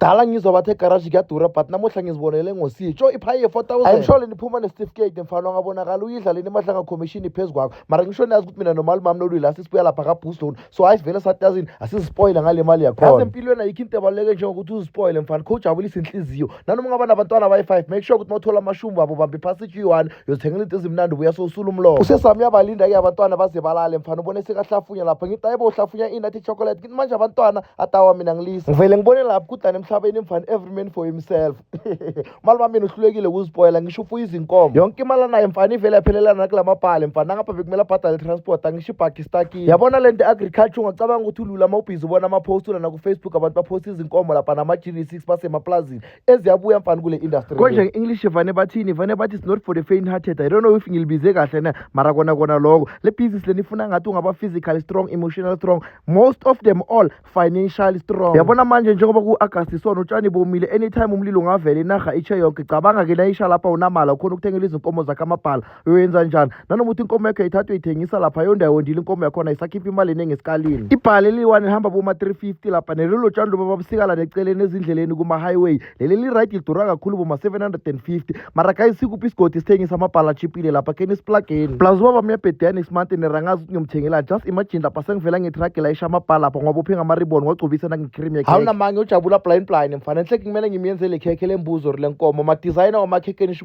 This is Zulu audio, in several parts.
dala ngizwa bathe egaraji kuyadura but namuhla ngizibonele ngositsho iphayi ye-4000 i'm sure leniphuma nesitifiketi mfana wangabonakala uyidlaleni imahlanga commission phezu kwakho mara ngisho niyazi ukuthi mina nomalimami nolwila sisibuya lapha kabuston so hayi sivele satazini asizispoyile ngale mali yakhona yazi empilweni ayikho into ebaluleke njengokuthi uzispoyile mfana kho ujabulisa inhliziyo nanoma ungaba nabantwana abayi-five make sure ukuthi uma uthola amashumbu abo bambe phasi i-g1 yozithengela into ezimnandi ubuya sowusula umlomo usesami uyabalinda-ke abantwana baze balale mfana ubone sekahlafunya lapha ngithi ayibo uhlafunya ini athi chocolate manje abantwana atawa mina ngilisa ngivele ngibone lapho kudlana emhlabeni mfana every man for himself mali wami mina uhlulekile ukuzipoyela ngisho ufuya izinkomo yonke imali anayo mfana ivele yaphelelana nakula mabhale mfana nangapha bekumele abhadale transport angisho ibhagi istakile yabona le nto agriculture ungacabanga ukuthi ulula uma ubhizi ubona amapost ulana kufacebook abantu baphosta izinkomo lapha nama-gd six basemaplazini eziyabuya mfana kule industry konje nge-english vane bathini vane bathi it's not for the faint hearted i don't know if ngilibize kahle na mara kona kona loko le business leni ifuna ngathi ungaba physically strong emotional strong most of them all financially strong yabona manje njengoba ku-agasti isona utshani bomile anytime umlilo ungavela inarha itshe yonke cabanga-ke nayisha lapha unamala ukhona ukuthengela izinkomo zakhe amabhala uyoyenza njani nanoma uthi inkomo yakho yayithatha uyithengisa lapha yonda yondile inkomo yakhona isakhipha imali eningi esikalini ibhale liyi-one lihamba boma-350 lapha nelelo tshani loba babusikala neceleni ezindleleni kuma-highway leli li-right lidura kakhulu boma-750 mara guys sikuphi isigodi sithengisa amabhala achipile lapha kheni isiplageni plus ubaba myabhediyane isimante nerangazi ukuthi ngiyomthengela just imagine lapha sengivela ngetragi layisha amabhala lapha ngoba uphe ngamaribon ngogcobisa nangicream yekhe hawunamanye ujabula blind blind mfana enhle kumele ngimyenzele ikhekhe lembuzo or lenkomo madizayina wamakhekenisho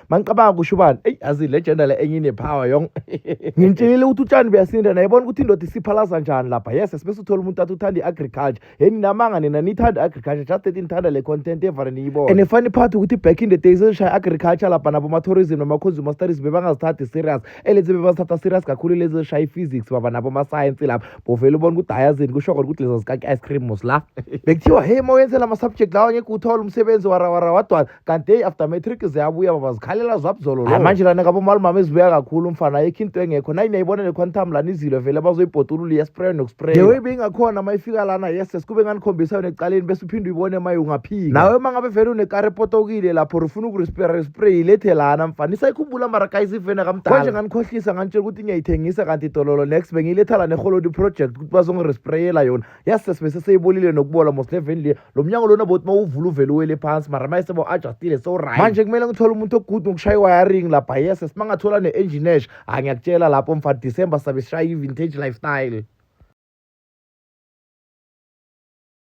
mangicabanga kusho ubani eyi azi le gender le enye inepower yong ngimtshelile ukuthi utshani buyasinda naye bona ukuthi indoda isiphalaza njani lapha yes sibese uthola umuntu athi uthanda i-agriculture yeni namanga nina nithanda i-agriculture just that nithanda le content evane niyibona and funny part ukuthi back in the days ezishaya agriculture lapha naboma-tourism nama-consumer studies bebangazithathi serious elezi bebazithatha serious kakhulu lezi ezishaya i-physics baba naboma-science lapha bovele ubona ukuthi hayazini kusho kona ukuthi leza zikaki-ice cream mos la bekuthiwa hey ma wenzela ama-subject lawa ngeke uthole umsebenzi warawarawadwana kanti day after matric ziyabuya baba zikhalela zwabuzolo lo manje lana kabo mali mama ezibuya kakhulu umfana ayikho into engekho nayi niyayibona le quantum lana izilo vele bazoyibhodulula iya spray no spray the way bengakhona mayifika lana yes sikube nganikhombisa yona ecaleni bese uphinde uyibone maye ungaphika nawe uma ngabe vele unekari epotokile lapho ufuna ukurisperre spray ilethe lana mfana isayikhumbula mara kayisivene kamdala konje nganikhohlisa nganitshela ukuthi ngiyayithengisa kanti idololo next bengiyiletha lana eholodi project ukuthi bazongirisprayela yona yes sesibese seyibolile nokubola mos le veni le lo mnyango lona boti mawuvula uvele uwele phansi mara maye seba u-adjustile sewuright manje kumele ngithole umuntu ogude ngokushaya i-wiring lapha yes simangathola ne-enginesh hayi ngiyakutshela lapho mfa december sabe sishaya i-vintage lifestyle